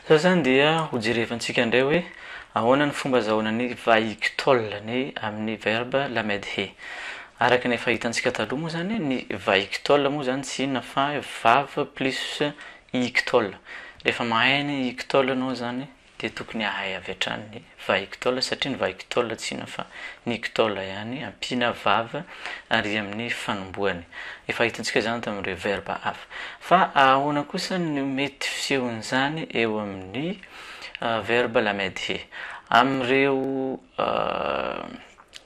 Zao zany dia ho jerevantsika indray hoe ahoana ny fomba azahoana ny vahiktol ny amin'ny verbe lamedhe. Araka ny efa hitantsika taloha moa zany ny vahiktol moa zany tsy inona fa vav plus iktol. Rehefa mahay ny iktol ianao zany dia tokony hahay avy hatrany ny vahiktôla satria ny vahiktôla tsy inona fa ny ktôla ihany ampiana vav ary amin'ny fanombohany. Efa hitantsika izany tamin'ireo verba hafa. Fa ahoana kosa no mety fisehon'izany eo amin'ny verba lamedhe? Amin'ireo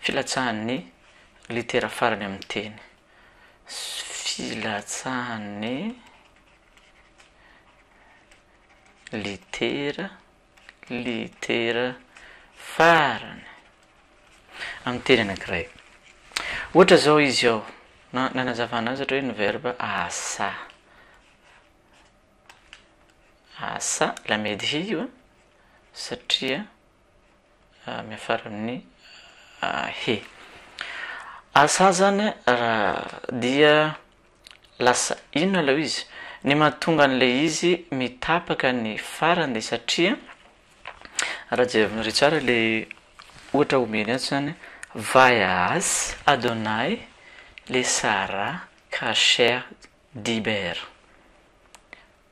Filatsahan'ny litera farany amin'ny teny. Filatsahan'ny litera, litera farany amin'ny teny anankiray. Ohatra izao izy ao, na nanazavana azy ohatra hoe ny verbe asa. Asa, la medhio, satria Miafara amin'ny he. Asa zany raha dia lasa inona ilay izy? Ny mahatonga an'ilay izy mitapaka ny farany dia satria, raha jerinareo tsara ilay ohatra omeny ato izany, Vaias, Adonai, le Sarah, Kasher, Dibera.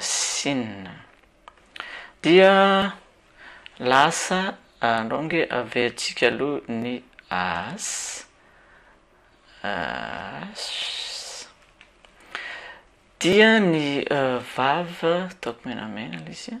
Sina. Dia lasa andao ange averintsika aloha ny as as dia ny vav ataoko menamena ilay izy a.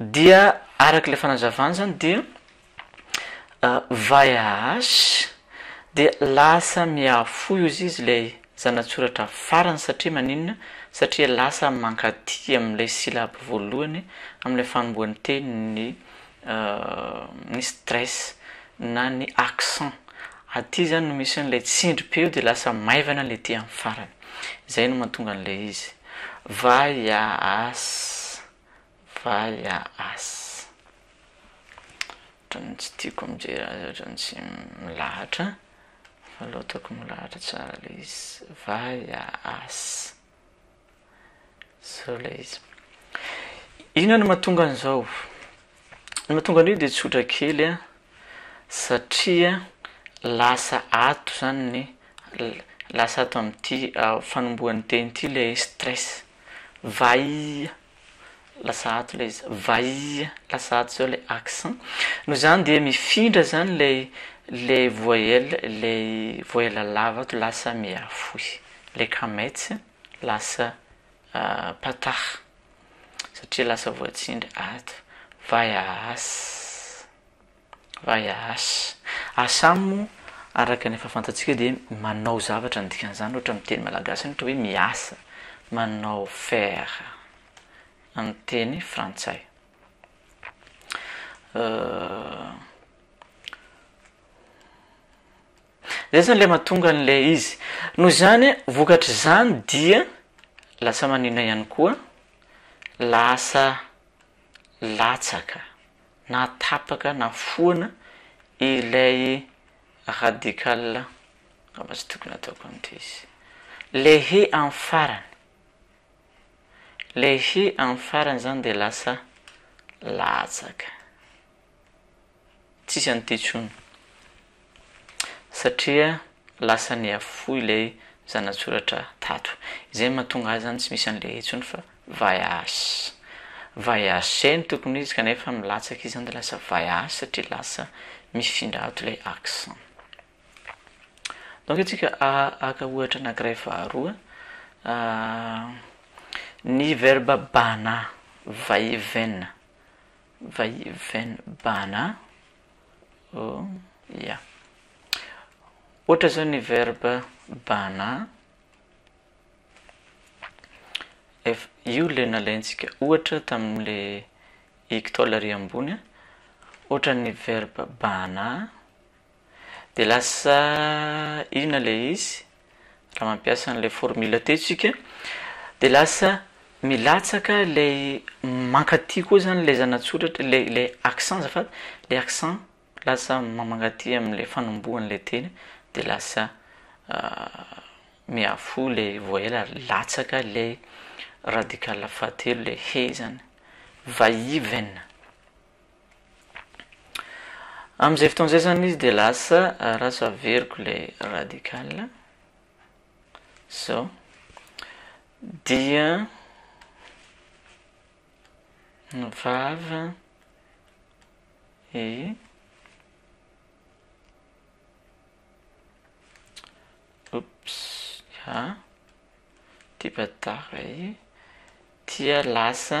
Dia araka ilay fanazavany izany dia VAH dia lasa mihafoy ozy izy ilay zanatsoratra farany satria maninona? Satria lasa mankaty amin'ilay syllabe voalohany amin'ilay fanombohan'ny teny ny ny stress na ny accent aty zany no misy an'ilay tsindry be eo de lasa maivana le aty amin'ny farany zay no mahatonga an'ilay izy va ya as va ya as ohatran'ny tsy tiako mijery azy ohatran'ny tsy milahatra fa loatako milahatra tsara le izy va ya as Zao ilay izy. Inona no mahatonga an'izao? Ny mahatonga an'io dia tsotra kely a, satria lasa ato izany ny l- lasa ato amin'ity fanombohan'ny teny ity ilay stress, vahia. lasa ato ilay izy, vaia, lasa ato izao ilay accent, noho izany dia mifindra izany ilay ilay voyelle, ilay voyelle lava ato lasa mihafohy, ilay kamets lasa patah satria lasa voatsindry ato, vaiaas. Vaias. Asam moa araka ny efa fantatsika dia manao zavatra ny dikan'izany ohatra amin'ny teny malagasy ohatra hoe miasa, manao faire amin'ny teny frantsay. Zay zany ilay mahatonga an'ilay izy. Noho izany, vokatr'izany dia lasa maninona ihany koa, lasa latsaka. na tapaka na foana ilay radical angamba tsy tokony ataoko an'ity izy le he amin'ny farany le he amin'ny farany zany de lasa latsaka tsisy an'ity tsony Satria lasa nihafoy ilay zanatsoratra tato. Izay no mahatonga ahy izany tsy misy an'ilay intsony fa vaias. Vaias no tokony ho izy kanefa milatsaka izy izany dia lasa vaias satria lasa mifindra ato ilay accent. Donc isika haka ohatra anankiray faharoa, ny verbe bana, va et vient, va et vient bana. Oh ya. Ohatra zao ny verbe bana, ef- io le nalaintsika ohatra tamin'le ectol ary ambony a, ohatra ny verbe bana de lasa inona le izy? Raha mampiasa an'ilay formule teo isika dia lasa milatsaka ilay mankaty koa izany ilay zana-tsoratra, ilay ilay accent azafady, ilay accent lasa mankaty amin'ilay fanombohan'ilay teny dia lasa mihafoha ilay voyelle ary latsaka ilay radical fahatelo, ilay he izany, va-i-ven. Amin'izay fotoana izay izany izy dia lasa rasa averiko ilay radical izao dia ny vava i oops ha tipa tara i dia lasa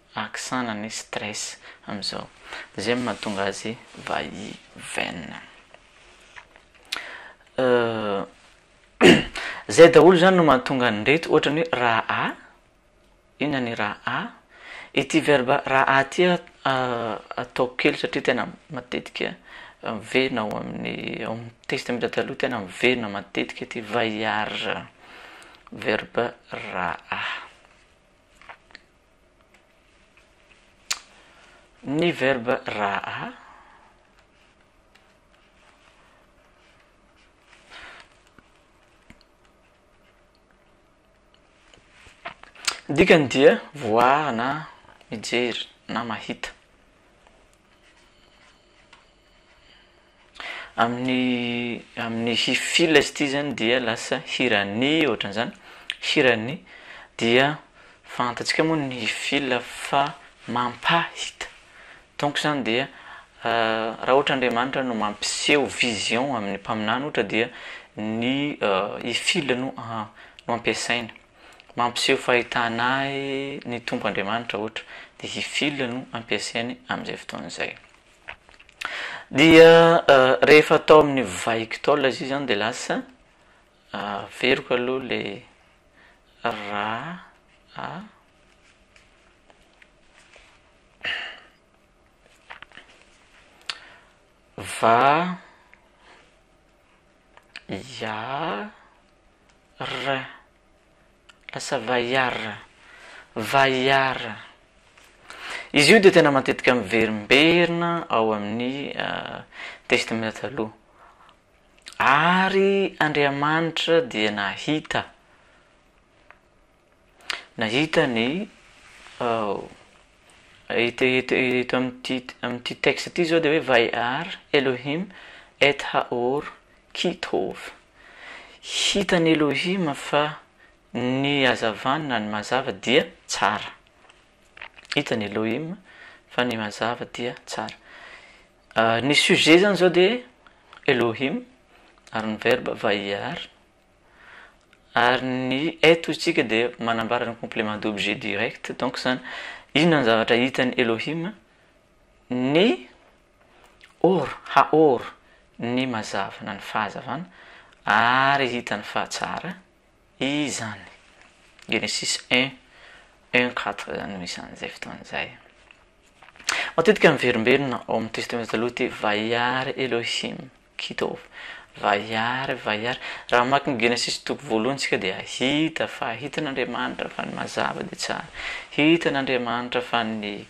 Accent na ny stress amin'izao. Izay no mahatonga azy va i Ven. Izay daholo izany no mahatonga an'ireto ohatra ny hoe raha. Inona ny raha? Ity verba raha ity ataoko kely satria tena matetika miverina ao amin'ny ao amin'ny Testamenta Taloha tena miverina matetika ity vaillard. Verba raha. Ny verbe raha dikany dia voir na mijery na mahita. Amin'ny amin'ny hi fil izy ity zany dia lasa hiran'ny ohatran'izany, hiran'ny dia fantantsika moa ny hi fil fa mampahita donc zany dia raha ohatra Andriamanitra no mampiseho vision amin'ny mpaminany ohatra dia ny hi fil no no ampiasaina, mampiseho fahitana ahy ny Tompo Andriamanitra ohatra dia hi fil no ampiasainy amin'izay fotoana izay. Dia rehefa atao amin'ny vaiko tao ilay izy izany dia lasa averiko aloha ilay ra a va ya ra. Lasa vaillard, vaillard. Izy io dia tena matetika miverimberina ao amin'ny Testamenta Taloha. Ary Andriamanitra dia nahita, nahita ny. Eto amin'ity texte ity izao dia hoe Vayar Elohim et ha'or ki tov. Hitan'i Elohim fa ny hazavana na ny mazava dia tsara. Hitan'i Elohim fa ny mazava dia tsara. Ny sujet zany izao dia Elohim ary ny verbe vayar. Ary ny eto isika dia manambara ny complément d'objet direct donc izany inona ny zavatra hitan'i Elohim? ny or, haor, ny mazava na ny fahazavana ary hitany fa tsara izany. Genesis 1, 1, 4 izany no isan'izay fotoana izay. Matetika miverimberina ao amin'ny Testamenta Taloha ity vayar Elohim Kitov. Vaiary, vaiary. Raha mamaky ny Genesisy toko voalohany isika dia hahita fa hitan'Andriamanitra fa ny mazava dia tsara. Hitan'Andriamanitra fa ny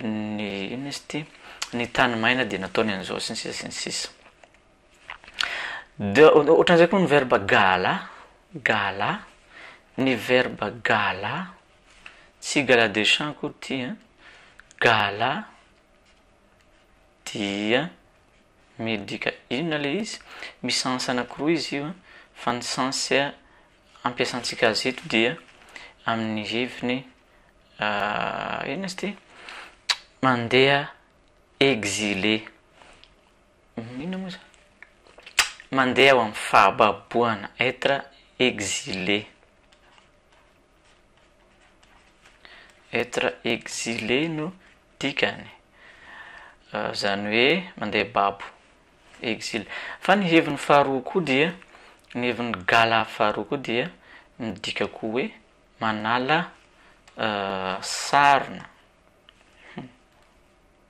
ny inona izy ity? ny tany maina dia nataony an'izao sy ny sisa sy ny sisa. Dia ohatran'izay koa ny verba gala, gala, ny verba gala, tsy gala de chant akory ity an, gala dia. Midika inona le izy? Misy sens anakiroa izy io an, fa ny sens ampiasantsika azy eto dia amin'ny heviny inona izy ity? Mandeha exilé, inona moa zany? Mandeha ho amin'ny fahababoana, être exilé. Être exilé no dikany, izany hoe mandeha babo, exil. Fa ny heviny faharoa koa dia, ny heviny gala faharoa koa dia midika koa hoe manala sarona.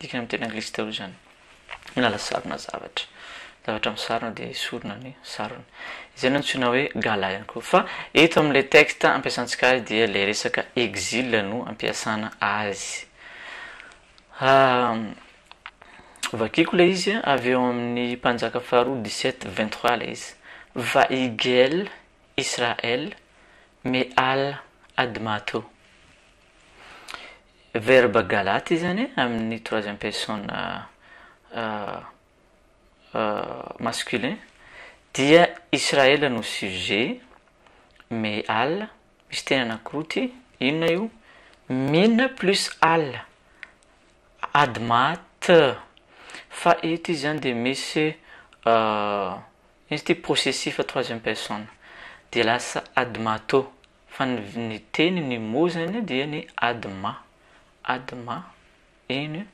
Dikany amin'ny teny anglisy daholo izany. Miala sarona zavatra. Ny zavatra misarona dia esorina ny sarony. Izay no antsoina hoe gala ihany koa. Fa eto amin'ilay texte ampiasantsika azy dia ilay resaka exil no ampiasana azy. Vakiko ilay izy avy eo amin'ny mpanjaka faharoa dix sept vingt trois ilay izy. Vaigel Israel Meal Admato. Verbe galaty izany e, amin'ny troisième personne masculin, dia Israel no sujet, me al, misy teny anankiroa ity, inona io? min plus al, adma t, fa eto izy zany dia misy inona izy ity possessif troisième personne, dia lasa admato, Fa ny ny teny ny mot zany dia ny adma, adma eny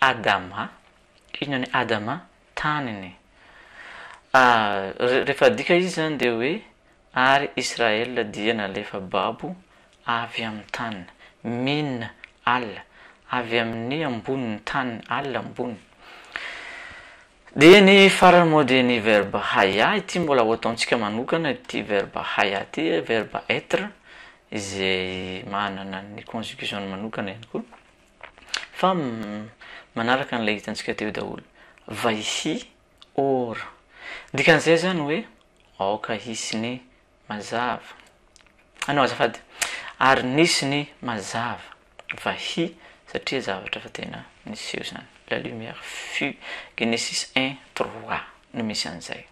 adama, inona ny adama? taniny. Ary rehefa adika izy zany dia hoe ary Israël dia nalefa babo avy amin'ny taniny, min al, avy amin'ny ambonin'ny taniny, al ambony. Dia ny farany moa dia ny verbe haya, ity mbola ho ataontsika manokana ity verbe haya ity, verbe être izay manana ny conjugaison-ny manokana ihany koa fa manaraka an'ilay hitantsika teo daholo, vai hi or, dikan'izay izany hoe aoka hisy ny Mazava. Anao azafady. Ary nisy ny mazava. Vahia satria zavatra efa tena niseho izany. La lumière fut. Genesis un trois no misy an'izay.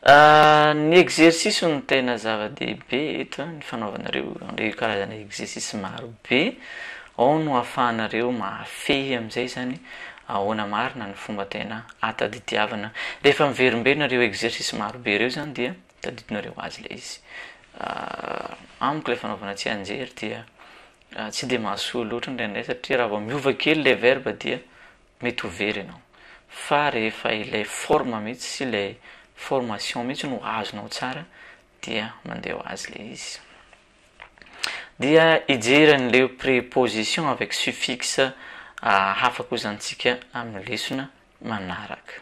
Ny exercice no tena zava-dehibe eto, ny fanaovanareo an'ireo karazana exercice marobe. Ao no ahafahanareo mahafehy amin'izay izany ahoana marina ny fomba tena a Tadidiavana, rehefa miverimberina ireo exercice maro be ireo izany dia tadidinareo azy ilay izy. Amiko ilay fanaovana tsianjery dia tsy dia mahasoa loatra indraindray satria raha vao miova kely ilay verbe dia mety ho very ianao. Fa rehefa ilay forme mihitsy sy ilay formation mihitsy no azonao tsara dia mandeha ho azy ilay izy. Dia hijery an'ilay préposition avec suffixe hafa koa izany isika amin'ny lesona manaraka.